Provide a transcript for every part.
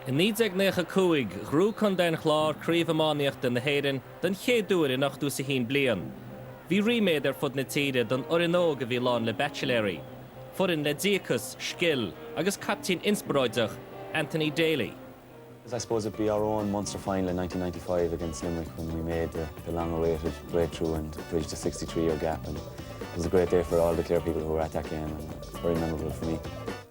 I 1995 ghnóthaigh Contae an Chláir Craobh Iománaíochta na hÉireann don chéad uair in ochtú is a haon bliain. Bhí ríméad ar fud na tíre don fhoireann óg a bhí lán le baitsiléirí. Foireann le díocas, scil agus caiptín inspioráideach, Anthony Daly. I suppose it'd be our Munster final in nineteen ninety five against Limerick when we made the the long awaited breakthrough and bridged the sixty three year gap and it was a great day for all the Clare people who were at that game and it's very memorable for me.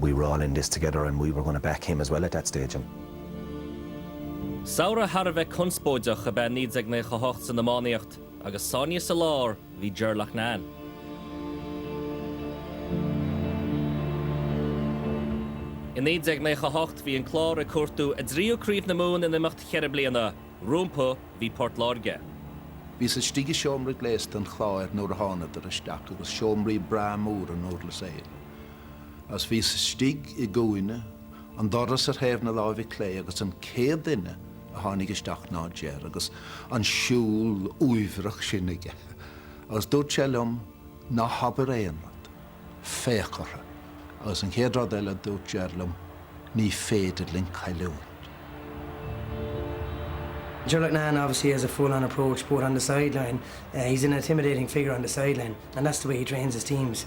we were all in this together and we were going to back him as well at that stage and. Samhradh thar a bheith conspóideach ab ea 1998 san iománaíocht agus sáinnithe ina lár bhí Ger Loughnane. I 1998 bhí an Clár ag cuartú a dtríú Craobh na Mumhan in imeacht cheithre bliana. Rompu bhí Port Láirge. Bhíos istigh i seomra gléasta an Chláir nuair a thánadar isteach agus seomraí breá móra i nDurlas Éile. Agus bhíos istigh i gcúinne an dorais ar thaobh na láimhe clé agus an chéad duine a tháinig isteach ná Ger agus an siúl uaibhreach sin aige agus dúirt Ger liom ná habair aon rud, féach orthu agus an chéad rud eile dúirt Ger liom ní féidir linn cailliúint. Ger Loughnane obviously has a full on approach both on the sideline, he's an intimidating figure on the sideline and that's the way he trains his teams.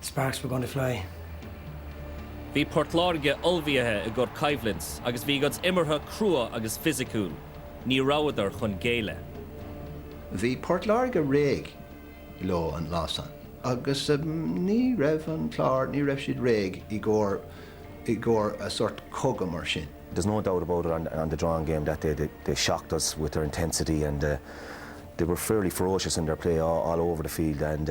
Sparks were going to fly. Bhí Port Láirge ullmhaithe i gcóir coimhlint agus bhí a gcuid imeartha crua agus fisiciúil. Ní rabhadar chun géilleadh. Bhí Port Láirge réidh leo an lá san agus ní raibh an Clár, ní raibh siad réidh i gcóir, i gcóir a sort cogadh mar sin. There's no doubt about it on on the drawn game that day they they shocked us with their intensity and they were fairly ferocious in their play all over the field and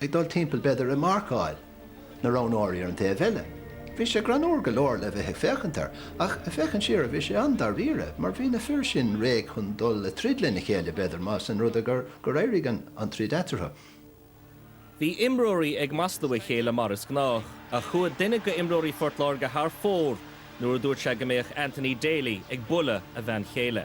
ag dul timpeall b'fhéidir ag marcáil na roghnóirí ar an taobh eile. Bhí sé greannmhar go leor le bheith ag féachaint air, ach féachaint siar bhí sé an-dairíre, mar bhí na fir sin réidh chun dul ag troid lena chéile b'fhéidir más in rud é gur éirigh an troid eatarthu. Bhí imreoirí ag maslú a chéile mar is gnách, ach chuaigh duine de imreoirí Phort Láirge thar fóir nuair a dúirt sé go mbeadh Anthony Daly ag bualadh a bhean chéile.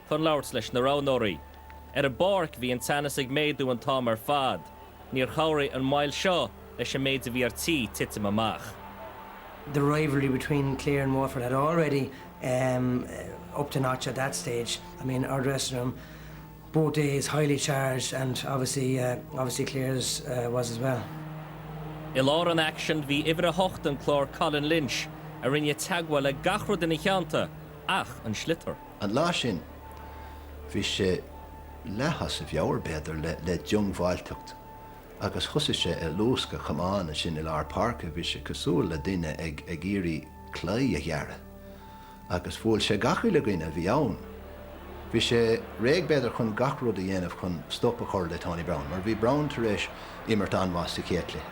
chun labhairt leis na roghnóirí. Ar an bpáirc bhí an teannas ag méadú an t-am ar fad. Níor chabhraigh an mhoill seo leis an méid a bhí ar tí titim amach. the rivalry between Clare and Waterford had already upped a notch at that stage I mean our dressing room both days highly charged and obviously uh obviously Clare's uh was as well. I lár an aicsin bhí uimhir a hocht an Chláir Colin Lynch a rinne teagmháil le gach rud ina theannta ach an sliotar. An lá sin, bhí sé leath as a mheabhair, b'fhéidir, le diongbháilteacht, agus thosaigh sé ag luascadh a chamáin. Ansin, i lár páirce, bhí sé cosúil le duine ag iarraidh claí a ghearradh, agus bhuail sé gach uile dhuine a bhí ann. Bhí sé réidh, b'fhéidir, chun gach rud a dhéanamh chun stop a chur le Tony Browne, mar bhí Browne tar éis imirt an-mhaith sa chéad chluiche.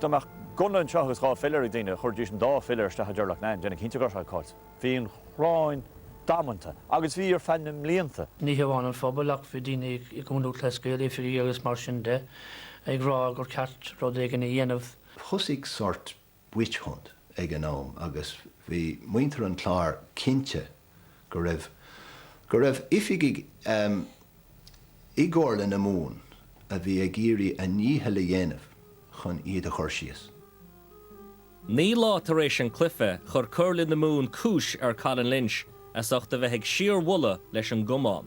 Dá mbeadh gunna anseo agus dhá philéar ag daoine, chuirfidís an dá philéar isteach i Ger Loughnane, déanamh cinnte go raibh sé caillte. Bhí an ghráin damanta agus bhí ar feadh na mblianta. Ní hamháin an phobal ach bhí daoine i gcumhacht, tá a fhios agat, oifigigh agus mar sin de, ag rá gur cheart rud éigin a dhéanamh. Thosaigh sórt witch-hunt ag an am agus bhí muintir an Chláir cinnte go raibh, go raibh oifigigh ehm, i gComhairle na Mumhan a bhí ag iarraidh a ndícheall a dhéanamh chun iad a chur síos. Naoi lá tar éis an cluife, chuir Comhairle na Mumhan cúis ar Colin Lynch as ucht a bheith ag síorbhualadh leis an gcamán.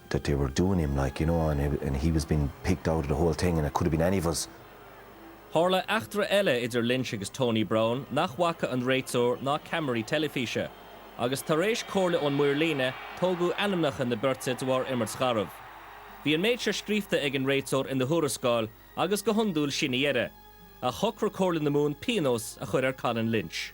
that they were doing him like, you know, and he and he was being picked out of the whole thing and it could have been any of us. Tharla eachtra eile idir Lynch agus Tony Browne nach bhfaca an réiteoir ná ceamaraí teilifíse. Agus tar éis comhairle ón maor líne, tógadh ainmneacha na beirte de bharr imirt gharbh. Bhí an méid seo scríobhta ag an réiteoir ina thuarascáil, agus go hiondúil sin a dheireadh. Ach shocraigh Comhairle na Mumhan píonós a chur ar Colin Lynch.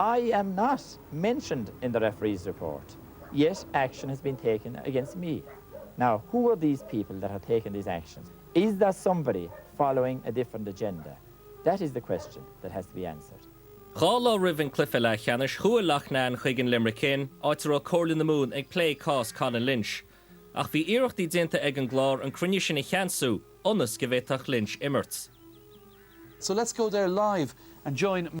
I am not mentioned in the referee's report, yet action has been taken against me. Now who are these people that have taken these actions? Is there somebody following a different agenda? That is the question that has to be answered. Dhá lá roimh an cluife leathcheannais, chuaigh Loughnane chuig an Limerick Inn, áit a raibh Comhairle na Mumhan ag plé cás Colin Lynch. Ach bhí iarrachtaí déanta ag an gClár an cruinniú sin a cheansú ionas go bhféadfadh Lynch imirt. So let's go there live and join.